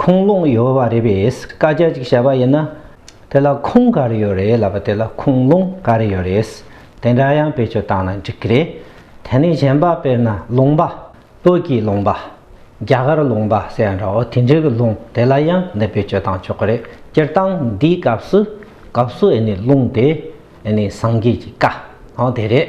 ཁུངས་ལུང་ཡོད་བ་རེད་པས་བཀའ་རྒྱ་གཅིག་བྱས་པ་ཡིན་ན། དེ་ལ་ཁུངས་ག་རེ་ཡོད་རེད་ལབ་པ་དེ་ལ་ཁུངས་ལུང་ག་རེ་ཡོད་རེད། དེ་འདྲ་ཡང་བེད་སྤྱོད་བཏང་ན་འགྲིག་གི་རེད། དེ་ནས་གཞན་པ་དཔེར་ན་ལུང་པ། བོད་ཀྱི་ལུང་པ། རྒྱ་གར་ལུང་པ་ཟེར་ཡང་འདྲའོ་དེ་འདྲའི་གི་ལུང་དེ་ལ་ཡང་འདི་བེད་སྤྱོད་བཏང་ཆོག་གི་རེད་སྤྱིར་བཏང་འདིའི་སྐབས་སུ། སྐབས་སུ་ཨེ་ནི་ལུང་དེ། ཨེ་ནི་སངས་རྒྱས་ཀྱི་བཀའ། དེ་རེད།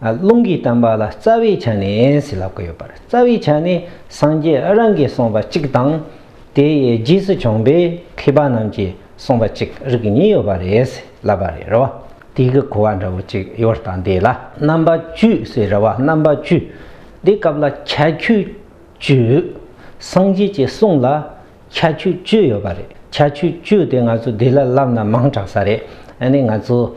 རླུང་གིས་བསྟན་པ་ལ་རྩ་བའི་ཆ་ནས་ལབ་ཀྱི་ཡོད་པ་རེད་རྩ་བའི་ཆ་ནས་སངས་རྒྱས་རང་གིས་གསུངས་པ་གཅིག་དང། དེའི་རྗེས་སུ་བྱོན་པའི་མཁས་པ་རྣམས་ཀྱིས་གསུངས་པ་གཅིག་རིགས་གཉིས་ཡོད་པ་རེད་ལབ་པ་རེད་རེད་བ། དེ་གི་གོ་བ་འདྲ་བོ་གཅིག་ཡོད་ད་འདི་ལ་རྣམ་པ་བཅུས་ཟེར་རེད་བ་རྣམ་པ་བཅུས་འདི་སྐབས་ལ་ཁྱད་ཆོས་བཅུས་སངས་རྒྱས་ཀྱི་གསུང་ལ་ཁྱད་ཆོས་བཅུ་ཡོད་པ་རེད་ཁྱད་ཆོས་བཅུ་དེ་ང་ཚོ་འདི་ལ་ལབ་ན་མང་དྲགས་ས་རེད་ཨ་ནི་ང་ཚོ་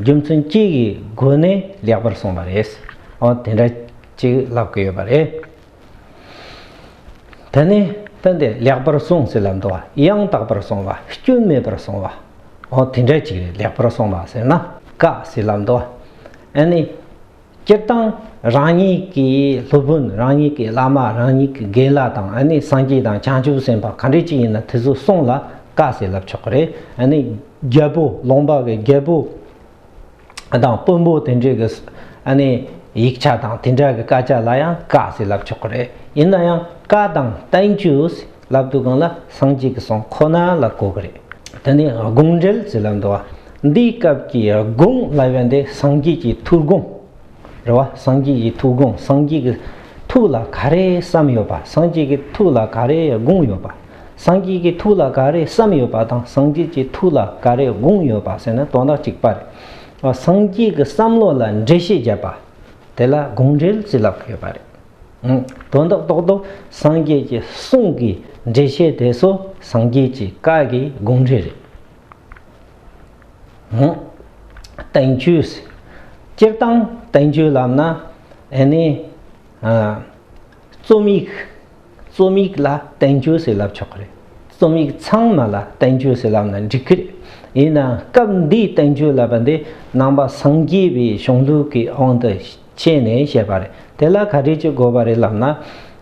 རྒྱུ་མཚན་གཅིག་གི་སྒོ་ནས་ལེགས་པར་གསུངས་པ་རེད། འོ་དེ་འདྲ་གཅིག་ལབ་དགོས་ཡོད་པ་རེད། ད་ནི་སྟོན་ཏེ་ལེགས་པར་གསུངས་ཟེར་ལ་འདུ་བ་ཡང་དག་པར་གསུངས་བ་སྐྱོན་མེད་པར་གསུངས་བ། འོ་དེ་འདྲ་གཅིག་རེད་ལེགས་པར་གསུངས་པ་ཟེར་ན་དཀའ་ཟེར་ལ་འདུ་བ། ཨ་ནི། སྤྱིར་བཏང་རང་ཉིད་ཀྱི་སློབ་དཔོན་རང་ཉིད་ཀྱི་བླ་མ་རང་ཉིད་ཀྱི་དགེ་བླ་དང་ཨ་ནི་སངས་རྒྱས་དང་བྱང་ཆུབ་སེམས་དཔའ་ག་འདྲི་ཅི་ཡིན་ན་དེ་ཚོ་གསུངས་ལ་བཀའ་ཟེར་ལབ་ཆོག་གི་རེད་ཨ་ནི་རྒྱལ་པོ་ལུང་པ་གི་རྒྱལ་པོ་དང་དཔོན་པོ་དེ་འདྲས་ཀྱི་ཨ་ནི་ཡིག་ཆ་དང་དེ་འདྲ་གི་བཀའ་ཆ་ལ་ཡང་བཀའ་ཟེར་ལབ་ཆོག་གི་རེད་ཡིན་ན་ཡང་བཀའ་དང Thank you ཟེར་ལབ་འདུག་གང་ལ་སངས་རྒྱས་ཀྱི་གསུང་ཁོ་ན་ལ་གོ་གི་རེད་དེ་ནི་དགོངས་འགྲེལ་ཟེར་ལབ་འདུག་བ། འདིའི་སྐབས་ཀྱི་དགུང་ལ་བས་འདི་སངས་རྒྱས་ཀྱི་ཐུགས་དགུང། རེད་བ། སངས་རྒྱས་ཀྱི་ཐུགས་དགུང་སངས་རྒྱས་ཀྱི་ཐུགས་ལ་ག་རེ་བསམ་ཡོད་པ་སངས་རྒྱས་ཀྱི་ཐུགས་ལ་ག་རེ་དགུང་ཡོད་པ། སངས་རྒྱས་ཀྱི་ཐུགས་ལ་ག་རེ་བསམ་ཡོད་པ་དང་སངས་རྒྱས་ཀྱི་ཐུགས་ལ་ག་རེ་དགུང་ཡོད་པ་ཟེར་ན་དོན་དག་གཅིག་པ་རེད། སངས་རྒྱས་ཀྱི་བསམ་བློ་ལ་འགྲེལ་བཤད་བརྒྱབ་པ། དེ་ལ་དགོངས་འགྲེལ་བརྩི་ལབ་ཀྱི་ཡོད་པ་རེད། དོན་དག་རྟོགས་དོ་སངས་རྒྱས་ཀྱི་གསུང་གི་འགྲེལ་བཤད་དེ་ཚོ་སངས་རྒྱས་ཀྱི་བཀའ་གི་དགོངས་འགྲེལ་རེད། བསྟན་བཅོས། སྤྱིར་བཏང་བསྟན་བཅོས་ལབ་ན་ཨེ་ནས། རྩོམ་ཡིག་རྩོམ་ཡིག་ལ་བསྟན་བཅོས་ཟེར་ལབ་ཆོག་གི་རེད། རྩོམ་ཡིག་ཚང་མ་ལ་བསྟན་བཅོས་ཟེར་ལབ་ན་འགྲིག་གི་རེད། ཡིན་ནའང་སྐབས་འདིའི་བསྟན་བཅོས་ལབ་པ་འདི་ནང་པ་སངས་རྒྱས་པའི་གཞུང་ལུགས་ཀྱི་དབང་དུ་བྱས་ནས་བཤད་པ་རེད་དེ་ལ་ག་དུས་ཀྱི་དགོས་པ་རེད་ལབ་ན།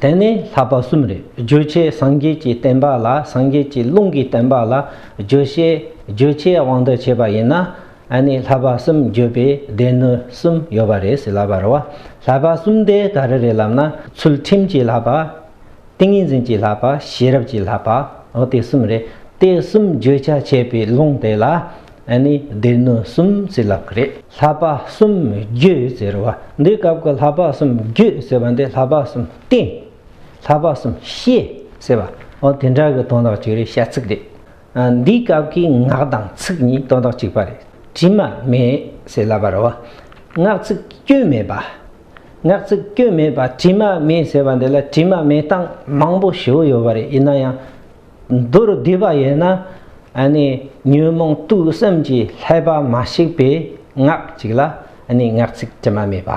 དེ་ནི་ལྷག་པ་གསུམ་རེད་བརྗོད་བྱའི་སངས་རྒྱས་ཀྱི་བསྟན་པ་ལ་སངས་རྒྱས་ཀྱི་ལུང་གི་བསྟན་པ་ལ་བརྗོད་བྱའི་བརྗོད་བྱའི་དབང་དུ་བྱས་པ་ཡིན་ན་ཨ་ནི་ལྷག་པ་གསུམ་བརྗོད་པའི་སྡེ་སྣོད་གསུམ་ཡོད་པ་རེད་ཟེར་ལབ་པར་བ་ལྷག་པ་གསུམ་དེ་ག་རེ་རེད་ལབ་ན་ཚུལ་ཁྲིམས་ཀྱི་ལྷག་པ། ཏིང་ངེ་འཛིན་གྱི་ལྷག་པ་ཤེས་རབ་ཀྱི་ལྷག་པའོ་དེ་གསུམ་རེད་དེ་གསུམ་བརྗོད་བྱ་བྱས་པའི་ལུང་དེ་ལ་ཨ་ནི་སྡེ་སྣོད་གསུམ་རྩི་ལག་རེད། ལྷ་པ་གསུམ་རྒྱུད་ཟེར་བ་འདི་སྐབས་ཀྱི་ལྷ་པ་གསུམ་རྒྱུད་ཟེར་བ་འདི་ལྷ་པ་གསུམ་བསྟེན། ལྷ་པ་གསུམ་ཤེས་ཟེར་བ་འོ་དེ་འདྲ་གི་དོན་དག་ཅིག་རེད་ཤ་ཚིག་རེད། འདི་སྐབས་ཀྱི་ངག་དང་ཚིག་གཉིས་དོན་དག་གཅིག་པ་རེད་དྲི་མ་མེད་ཟེར་སླ་བར་འོ། ངག་ཚིག་སྐྱོན་མེད་པ། ངག་ཚིག་སྐྱོན་མེད་པ་དྲི་མ་མེད་ཟེར་བ་འདི་ལ་དྲི་མ་མེད་སྟངས་མང་པོ་ཞིག་ཡོད་པ་རེད་ཡིན་ན་ཡང། མདོར་བསྡུས་པ་ཡིན་ན་ནི་ཉོན་མོངས་རྟུལ་སེམས་ཀྱི་ལྷད་པ་མ་ཞིག་པའི་ངག་ཅིག་ལ་ནི་ངག་ཚིག་དྲི་མ་མེད་པ་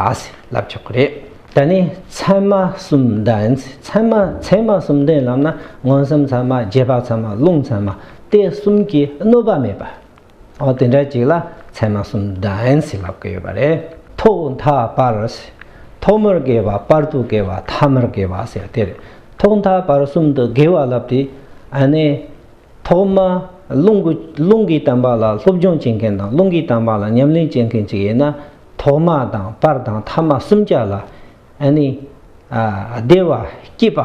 ལབ་ཆོག་གི་རེད། ད་ནི་ཚད་མ་གསུམ་ལྡན། ཚད་མ་ཚད་མ་གསུམ་ལྡན་ལབ་ན་མངོན་སུམ་ཚད་མ་རྗེས་དཔག་ཚད་མ་རླུང་ཚད་མ་སྟེ་གསུམ་གྱིས་གནོད་པ་མེད་པ། ཨོ་དེ་འདྲ་ཅིག་ལ་ཚད་མ་གསུམ་བདེན་ཞེས་ལབ་ཀི་ཡོད་པ་རེད། ཐོག་མཐའ་བར། ཐོག་མར་དགེ་བ་པར་དུ་དགེ་བ་ཐ་མར་དགེ་བ་ཟེར་དེར། ཐོག་མཐའ་བར་གསུམ་དུ་དགེ་བ་ལབ་སྟེ། ནས། ཐོག་མ། རླུང་གི་རླུང་གི་དམ་པ་ལ་སློབ་སྦྱོང་བྱེད་མཁན་དང་རླུང་གི་དམ་པ་ལ་ཉམས་ལེན་བྱེད་མཁན་ཅིག་ཡིན་ན། ཐོག་མ་དང་པར་དང་ཐ་མ་གསུམ་ཆ་ལ། ཨ་ནི། བདེ་བ་སྐྱིད་པ།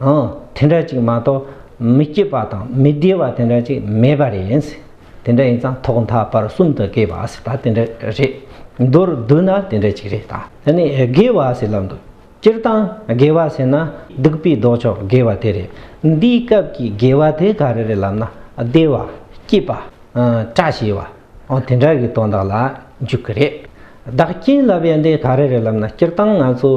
ཨང། དེ་འདྲ་ཅིག་མ་གཏོགས་མི་སྐྱིད་པ་དང་མི་བདེ་བ་དེ་འདྲ་ཅིག་མེད་པ་རེད། དེ་འདྲ་ཡིན་ཙང་ཐོག་མཐའ་བར་གསུམ་དུ་དགེ་བ་ཟེར་ད་དེ་འདྲ་རེད། མདོར་བསྡུ་ན་དེ་འདྲ་ཅིག་རེད་ད། དེ་ནི་དགེ་བ་ཟེར་ལབ་འདུག་སྤྱིར་བཏང་དགེ་བ་ཟེར་ན་སྡིག་པའི་ལྡོག་ཕྱོགས་དགེ་བ་དེ་རེད། འདིའི་སྐབས་ཀྱི་དགེ་བ་དེ་ག་རེ་རེད་ལབ་ན་བདེ་བ། སྐྱིད་པ། བཀྲ་ཤིས་བ། ཨང། དེ་འདྲ་གི་དོན་དག་ལ་འཇུག་གི་རེད། བདག་རྐྱེན་ལབ་ཡ་འདི་ག་རེ་རེད་ལབ་ན་སྤྱིར་བཏང་ང་ཚོ།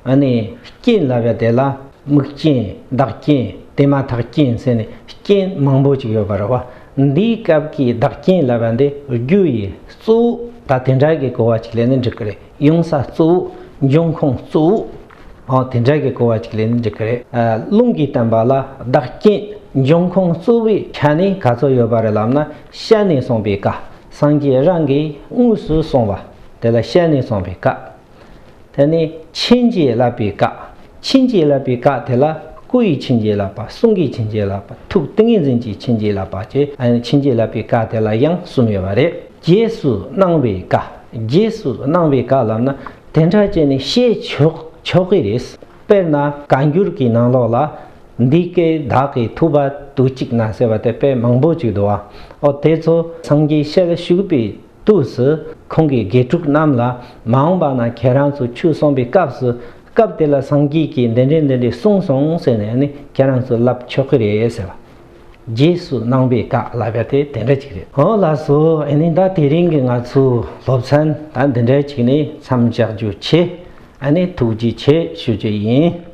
ཨ་ནི་རྐྱེན་ལ་བས་དེ་ལ་དམིགས་རྐྱེན་བདག་རྐྱེན་དེ་མ་ཐག་རྐྱེན་ཟེར་ནས་རྐྱེན་མང་པོ་ཅིག་ཡོད་པ་རེད་བ། འདིའི་སྐབས་ཀྱི་བདག་རྐྱེན་ལ་བས་འདི་རྒྱུ་ཡི་གཙོ་བོ་ད་དེ་འདྲ་གི་གོ་བ་ཅིག་ལས་ནི་འགྲིག་གི་རེད་ཡོང་ས་གཙོ་བོ་འབྱུང་ཁུངས་གཙོ་བོ་འོ་དེ་འདྲ་གི་གོ་བ་ཅིག་ལས་ནི་འགྲིག་གི་རེད། རླུང་གིས་བསྟན་པ་ལ་བདག་རྐྱེན་འབྱུང་ཁུངས་གཙོ་བོའི་ཆ་ནས་ག་ཚོད་ཡོད་པ་རེད་ལབ་ན་ཤ་ནས་གསུངས་པའི་ཀ་སངས་རྒྱས་རང་གིས་དངོས་སུ་གསུངས་བ་དེ་ལ་ཤ་ནས་གསུངས་པའི་ཀ། དེ་ནི་ཕྱིན་ཅི་ལོག་པའི་བཀའ། ཕྱིན་ཅི་ལོག་པའི་བཀའ་དེ་ལ་སྐུ་ཡི་ཕྱིན་ཅི་ལོག་པ་གསུང་གི་ཕྱིན་ཅི་ལོག་པ་ཐུགས་ཏིང་ངེ་འཛིན་གྱི་ཕྱིན་ཅི་ལོག་པ་བཅས་ཕྱིན་ཅི་ལོག་པའི་བཀའ་དེ་ལ་ཡང་གསུམ་ཡོད་པ་རེད། རྗེས་སུ་གནང་བའི་བཀའ། རྗེས་སུ་གནང་བའི་བཀའ་ལབ་ན་དེ་འདྲ་བྱས་ནས་བཤད་ཆོག་ཆོག་གི་རེད། དཔེར་ན་བཀའ་འགྱུར་གྱི་ནང་ལོགས་ལ། འདི་སྐད་བདག་གིས་ཐུབ་པ་དུ་གཅིག་ན་ཟེར་བ་དེ་དཔེ་མང་པོ་ཅིག་འདུག་བ། ཨོ་དེ་ཚོ་སངས་རྒྱས་ཞལ་ཞུགས་པའི་དུས་སུ་ཁོང་གིས་དགེ་ཕྲུག་རྣམས་ལ་མ་འོངས་པ་ན་ཁྱེད་རང་ཚོ་ཆོས་གསུངས་པའི་སྐབས་སུ་སྐབས་དེ་ལ་སངས་རྒྱས་ཀྱིས་འདི་འདྲས་འདི་འདྲས་གསུངས་སོང་ཟེར་ནས་ནི་ཁྱེད་རང་ཚོས་ལབ་ཆོག་གི་རེད་ཟེར་བ། རྗེས་སུ་གནང་པའི་བཀའ་ལ་ག་དེ་དེ་འདྲ་ཅིག་རེད། འོ་ལགས་སོ་ཨེ་ནི་ད་དེ་རིང་གི་ང་ཚོའི་སློབ་ཚན་ད་འདི་འདྲ་ཅིག་ནས་མཚམས་བཞག་རྒྱུ་ཆེ་ཨ་ནི་ཐུགས་རྗེ་ཆེ་ཞུ་རྒྱུ་ཡིན།